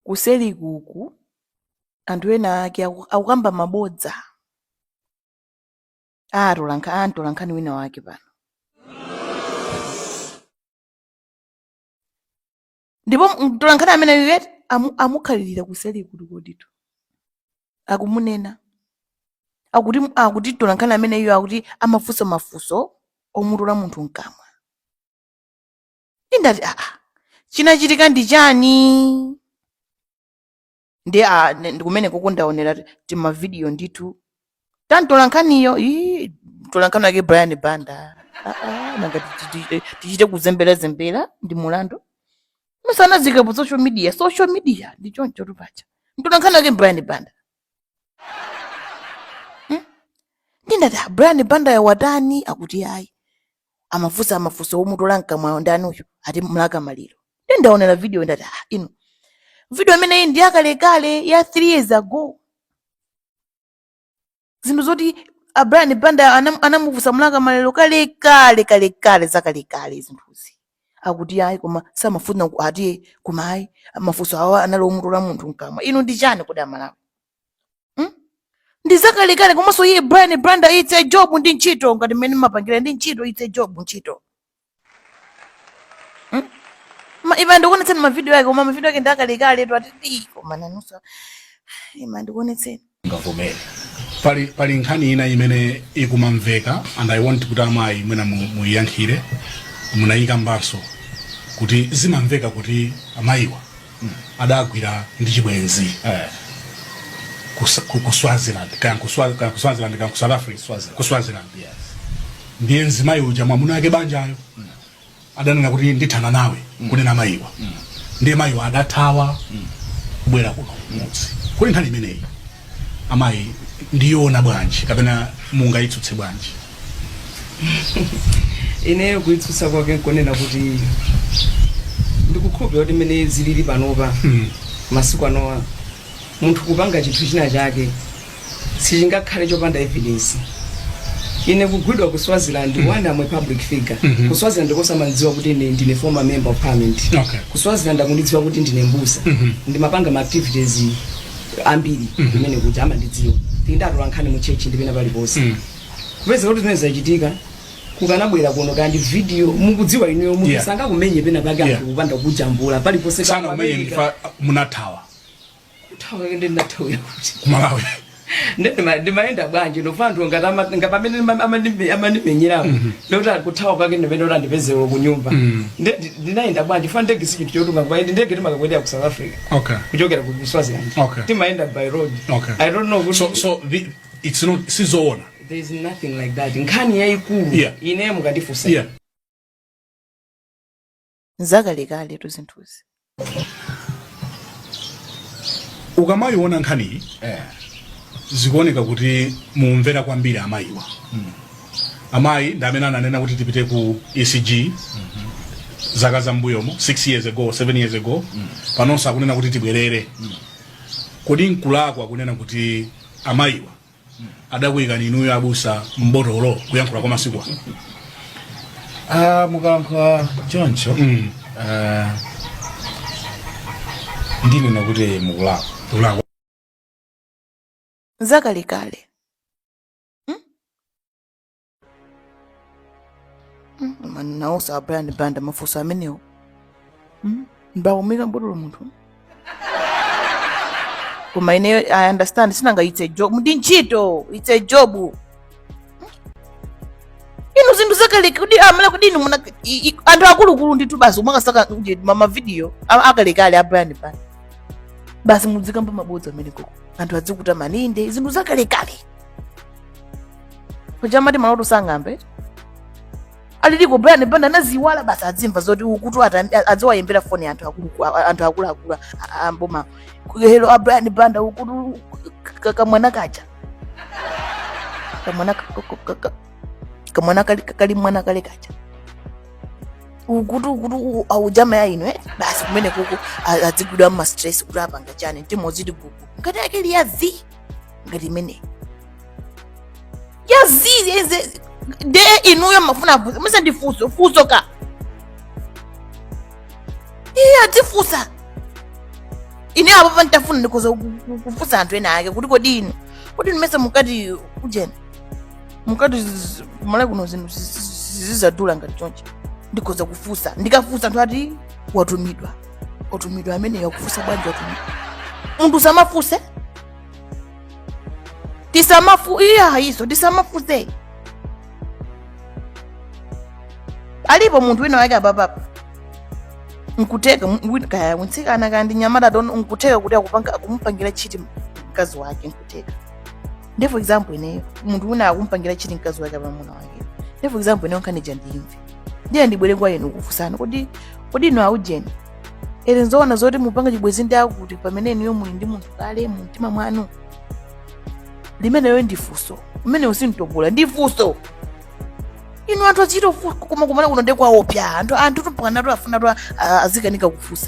kuseliku uku anthu ena ake aku- akukamba mabodza a atolankhani a mtolankhani wina wake pano ndipo mtolankhani amene iyeyu amu, amukhalirira kuseli kukoditu akumunena akuti akuti mtolankhani ameneyo akuti amafunsa mafunso omutola munthu mkamwa nde ndati aa chinachitika ndi chani ndi a ne- ndi kumene koko ndaonera timavidiyo ndithu ta mtolankhaniyo ii, mtolankhani wake brian banda Ah, ah, nanga ti- ti- ti- tichite kuzemberazembera ndi mulandu musanaziike pa social media social media ndi choncho tu paja mtolankhani wake brian banda nde ndati "Ah, brian bandayo watani akuti ayi amafunsa mafunso omutola mkamwayo ndani uyu ati mlaka maliro nde ndaonera video ndati ah, inu video imeneyi ndi yakalekale ya 3 years ago zinthu zoti a brian banda anam- anamufunsa mlaka maliro kalekale kalekale zakalekale zinthuzi akuti ayi koma samafuna ku- ati koma ayi mafunso awa anali omutola munthu mkamwa inu ndi chani kodi amalawi hmm? ndi zakalekale komanso iye brian banda it's a job ndi ntchito ngati mmene mmapangira ndi ntchito it's a job ntchito hmm? Ma- ima ndikuonetseni mavidiyo ake koma mavidiyo ake ndi akalekale tu ati "Ii, koma nanunso ima ndikuonetseni mungavomere pali pali nkhani ina imene ikumamveka and i want kuti amayi mwina mu- muyiyankhire munayikambanso kuti zimamveka kuti amayiwa adagwidwa ndi chibwenzi Eh. kus- ku ku swaziland kaya ku Swa- kaya ku swaziland kaya ku south africa Swaziland. ku swaziland Yes. ndiye mzimayi uja mwamuna ake banjayo adanena kuti ndithana nawe kunena mayiwa ndiye mayiwa adathawa kubwera kuno kumudzi kodi nkhani imeneyi amayi ndiyoona bwanji kapena mungayitsutse bwanji ineyo kuitsutsa kwake nkonena kuti ndikukhulupirira kuti mmene zilili panopa masiku anowa munthu kupanga chinthu china chake sichingakhale chopanda evidence ine kugwidwa ku swaziland mm. one am a public figure mm -hmm. ku swaziland kuja amandidziwa kuti ine ndine former member of parliament okay. ku swaziland akundidziwa kuti ndine mbusa mm -hmm. ndimapanga ma activities ambiri mm -hmm. mmene kuja amandidziwa ndi atolankhani mu church ndi pena paliponse mm. kupeza kuti zimene zachitika kukanabwera kuno ka ndi video mukudziwa inuyo munthu yeah. sangakumenye pena pake yeah. kupanda kujambula paliponse asanakumenye munathawa ku Malawi ndimayenda bwanji nanga anthu ngati ama- nga pamene ndima- amandime- amandimenyerapo ndikuti kuthawa kwake ndimene kuti andipezero ku nyumba Nde- ndi- ndinayenda bwanji Chifukwa ndege si chinthu chotunga ndege timakakwendera ku south africa okay kuchokera ku swaziland Okay. timayenda by road Okay. i don't know kuti so so the, it's not sizoona there is nothing like that nkhani yayikulu Yeah. ine mukandifunsa yeah ndi zakalekaletu zinthuzi ukamayiona nkhaniyi zikuoneka kuti mumvera kwambiri amayiwa amayi ndi amene ananena kuti tipite ku ecg zaka za mbuyomo 6 years ago 7 years ago panonso akunena kuti tibwerere kodi nkulakwa kunena kuti amayiwa adakuyikani inuyo abusa mbotolo kuyankhula kwa masiku ano Ah, mukalankhula choncho Mm. ah, ndinena kuti mukulakwa zakalekale mani nawoso a brian banda mafunso amenewo mbawumika mbotolo munthu koma ineyo i understand sinanga it's a job ndi ntchito it's a job inu zinthu zakalekale kuti amala kuti inu muna i- i- anthu akuluakulu ndithu basi kumakasaka kuti ma- mavidiyo a- akalekale a brian banda basi mudzikamba mabodza ameneyo kuti anthu adzikuta mani nde zinthu zakalekale paja amati maloto sang'ambe aliko brian banda anaziwala basi adzimva zoti ukutu ata- adziwayimbira foni anthu akulu- a- anthu akuluakulu am'boma helo a brian banda ukutu ka- kamwana kaja kamwana ka- ka- ka- ka- kamwana kali kali mwana kale kaja ukutu ukutu u- akujama ya ino eh? basi kumene kuku a- adzigwidwa mmastress kuti wapanga chani mtima uziti gugu ngati yake liyazi ngati imeneyi yazizi nde inuyo mafuna afunse musandifunse funso ka iye atifunsa ine apapa nditafuna ndikhoza ku- ku- kufunsa anthu ena ake kuti kodi inu kodi inu mesa munkati ujeni munkati zizi- kumalawi kuno zinthu zizi- zizi- zizadula ngati chonchi ndikhoza kufunsa ndikafunsa anthu ati watumidwa otumidwa ameneyo akufunsa bwanji otumidwa munthu usamafuse tisamafu iya izo tisamafuse alipo munthu wina wake apapapa nkutheka mu- wina- kaya mtsikana kaya ndi mnyamata tsono nkutheka kuti akupanga- akumupangira chiti mkazi wake nkutheka nde for example ineyo munthu wina akumpangira chiti mkazi wake mamuna wake nde for example ineyo nkhani ija ndiyimve ndiye ndibwere kwa inu kufunsani kodi inu aujeni ere nzoona zoti mupanga chibwenzi ndi akuti pamene inuyo muli ndi munthu kale mu mtima mwanu limenelo ndi funso umenewo si mtopola ndi funso inu anthu achito koma kumana kuno nde kwaopsya anthu anthutu mpakanatu afunatu azikanika kufunsa